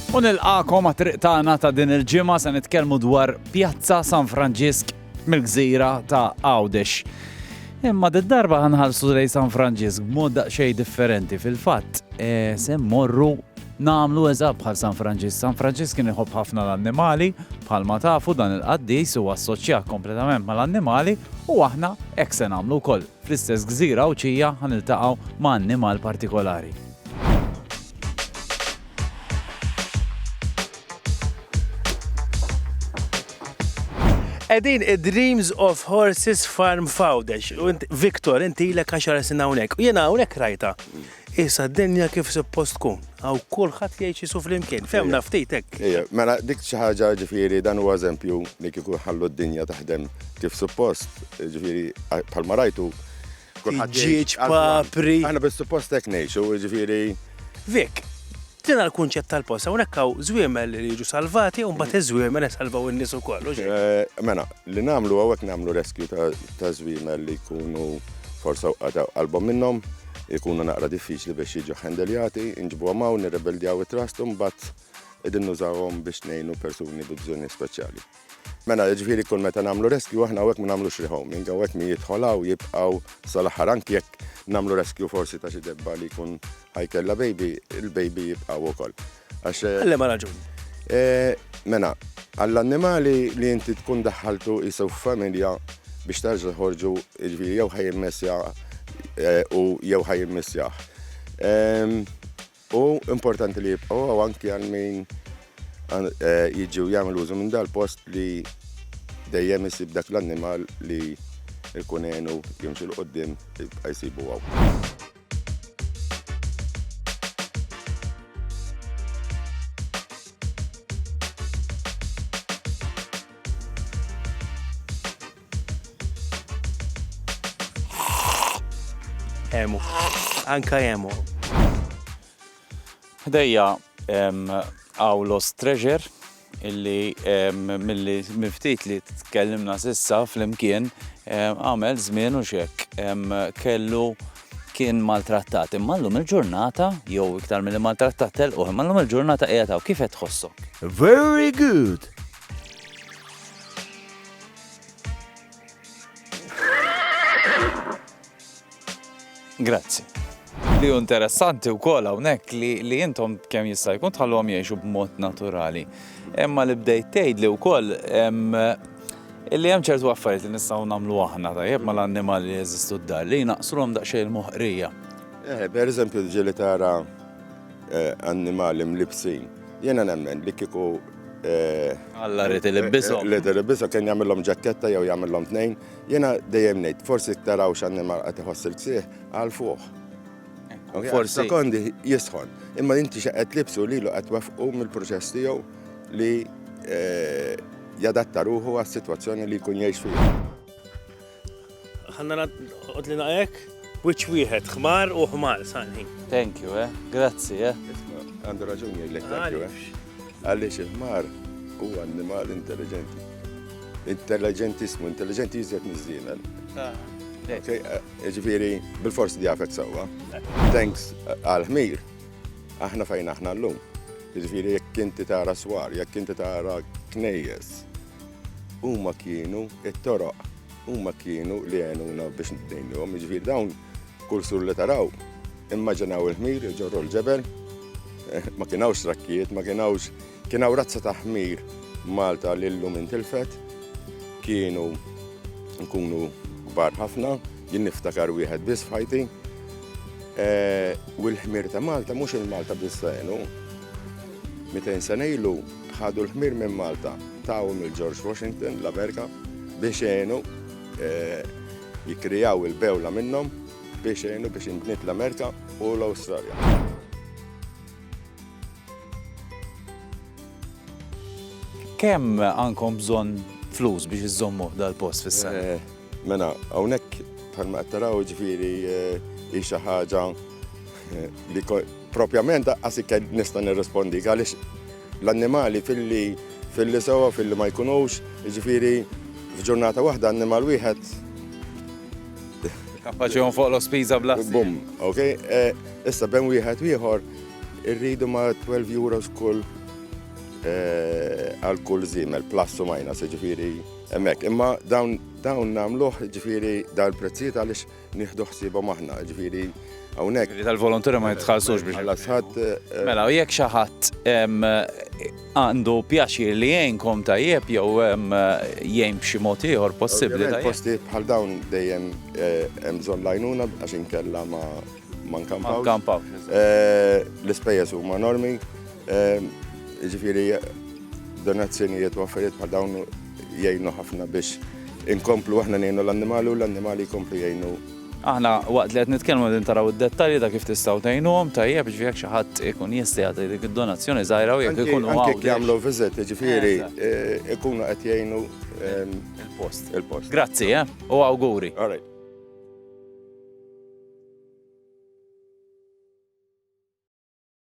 U nilqakom għat triq tagħna ta' din il-ġimgħa se nitkellmu dwar Pjazza San Franġisk mill-gżira ta' Għawdex. Imma d-darba ħanħarsu lej San Franġisk b'mod daqsxejn differenti fil-fatt eh, se mmorru Nagħmlu eżatt bħal San Franġisk. San Franġisk kien iħobb ħafna l-annimali, bħalma tafu dan il-qaddis hu assoċjat kompletament mal-annimali u aħna hekk se nagħmlu wkoll. Fl-istess gżira Għawdxija ħa niltaqgħu ma' annimal partikolari. Edin id-Dreams of Horses Farm Fawdex. Viktor, inti l-ek għaxar sena unek. U jena unek rajta. Issa d-dinja kif suppost tkun, għaw kulħadd jgħid xi su flimkien, femna ftit hekk. Ejja, mela dik xi ħaġa ġifieri dan huwa eżempju li kieku ħallu d-dinja taħdem kif suppost, ġifieri bħalma rajtu. Ġieġ papri. Aħna bis-suppost hekk ngħixu, ġifieri. Vik, Tina l-kunċett tal-post, hawnhekk hawn żwiemel li jiġu salvati u mbagħad iż-żwiemel isalvaw in-nies ukoll, u xejn. Mela, li nagħmlu hawnhekk nagħmlu rescue ta' żwiemel li jkunu forsa wqata' qalbhom minnhom, ikunu naqra diffiċli biex jiġu ħendeljati, inġibuhom hawn, nirrebeldjaw it-trust u mbagħad qegħdin nużawhom biex ngħinu persuni bi bżonnijiet speċjali. Mela, jiġifieri kull meta nagħmlu rescue aħna hawnhekk ma nagħmlux rehoming, hawnhekk min jidħol hawn jibqgħu sal-aħħar anki jekk nagħmlu rescue forsi ta' xi debba li jkun ħajkella baby, il-baby jibqgħu wkoll. Għax eh, Għallem raġuni. Eh, mela, għall-annimali li inti tkun daħħaltu jisew familja biex tarġa ħorġu ġviri jew ħajim messja eh, u jew ħajim messjaħ. Ehm, Hu importanti li jibqgħu hawn anki għal min jiġi u jagħmel użu minn dal-post li dejjem isib dak l-annimal li jkun għenu jimxi 'l quddiem jibqa' jsibu hawn. Emu. Anka emu. Ħdejja għaw Lost Treasure illi mill-li miftit li tkellimna sissa fl-imkien għamel żmien u xek kellu kien maltrattat. Imma llum il-ġurnata, jew iktar mill maltrattat telquh, imma llum il-ġurnata qiegħed kif qed tħossok? Very good! Grazzi. Li hu interessanti wkoll hawnhekk li, li intom kemm jista' jkun tħallhom jgħixu b'mod naturali. Imma li bdejt tgħid li wkoll illi hemm ċertu affarijiet li nistgħu nagħmlu aħna tajjeb mal-annimali li jeżistu d-dar li jnaqslhom daqsxejn il-moħqrija. Eh, per eżempju, ġieli tara eh, annimali mlibsin Jena nemmen li kiku eh, Alla rrit il-ibbisa. Li il-ibbisa kien jagħmilhom ġakketta jew jagħmilhom tnejn. Jena dejjem ngħid, forsi taraw x'għandni marqa tiħoss il-ksieħ għal fuq. Forsi. Sekondi jisħon. Imma inti xaqet libsu li lu qed wafqu mill-proċess tiegħu li eh, jadatta ruħu għas-sitwazzjoni li jkun jgħix fiha. Ħanna naqgħod li naqgħek, wiċċ wieħed, ħmar u ħmar sanħin. Thank you, eh? Grazzi, eh? Għandu raġuni jgħidlek thank you, eh? Għaliex il-ħmar huwa annimal intelligenti. Intelligentissmu, intelligenti jizjet mizzina. Ah. Eh, ġifiri, bil-forsi di għafet sawa. Thanks eh, għal-ħmir, aħna fejn aħna l-lum. Ġifiri, jekk inti tara swar, jekk inti tara knejjes, Huma kienu it-toroq, huma kienu li għenuna biex nidejnuhom, jiġifieri dawn kull sur li taraw, immaġinaw il-ħmir iġorru l-ġebel, eh, ma kien hawnx trakkijiet, ma kien hawnx kien hawn razza ta' ħmir Malta li llum intilfet, kienu nkunu kbar ħafna, jien niftakar wieħed biss f'ħajti. Eh, u l-ħmir ta' Malta mhux il-Malta biss għenu. 200 sena ilu Ħadu l-ħmir minn Malta, taw mill George Washington, l-Amerika, biex għenu eh, jikrijaw il-bewla minnhom biex għenu biex inbniet l-Amerika u l-Awstralja. kemm għandkom bżonn flus biex iżommu dal-post fis-sena? Eh, Mela, hawnhekk bħalma qed taraw ġifieri eh, hi xi ħaġa eh, li propjament daqqas ikkel nista' nirrispondi għaliex l-annimali filli filli sewa filli ma jkunux, ġifieri f'ġurnata waħda annimal wieħed Kapaċi fuq l-ospiża bla. Bum, ok? Eh, issa ben wieħed wieħor irridu ma 12 euros kull għal kull zimel, plus u minus, ġifieri Hemmhekk, imma dawn dawn nagħmluh ġifieri dawn il-prezzijiet għaliex nieħdu ħsiebhom aħna, ġifieri hawnhekk. Li tal-volontira ma jitħallsux biex. Ħallas ħadd. Eh, mela, u jekk xi ħadd għandu pjaċir li jgħinkom tajjeb jew jgħin b'xi mod ieħor possibbli. Posti bħal dawn dejjem eh, hemm bżonn lajnuna għax inkella ma ma nkampaw. Eh, l-ispejjeż huma normi. Ġifiri, donazzjonijiet u affarijiet ma dawn jgħinu ħafna biex inkomplu aħna ngħinu l-annimali u l-annimali jkomplu jgħinu. Aħna waqt li qed nitkellmu din taraw id-dettalji ta' kif tistgħu tgħinuhom tajjeb ġifieri jekk xi ħadd ikun jista' jagħti dik id-donazzjoni żgħira u jekk ikunu hawn. Anke jagħmlu viżit, ġifieri eh, ikunu qed jgħinu ehm, il-post. Il-post. Grazzi, eh? U awguri. All right.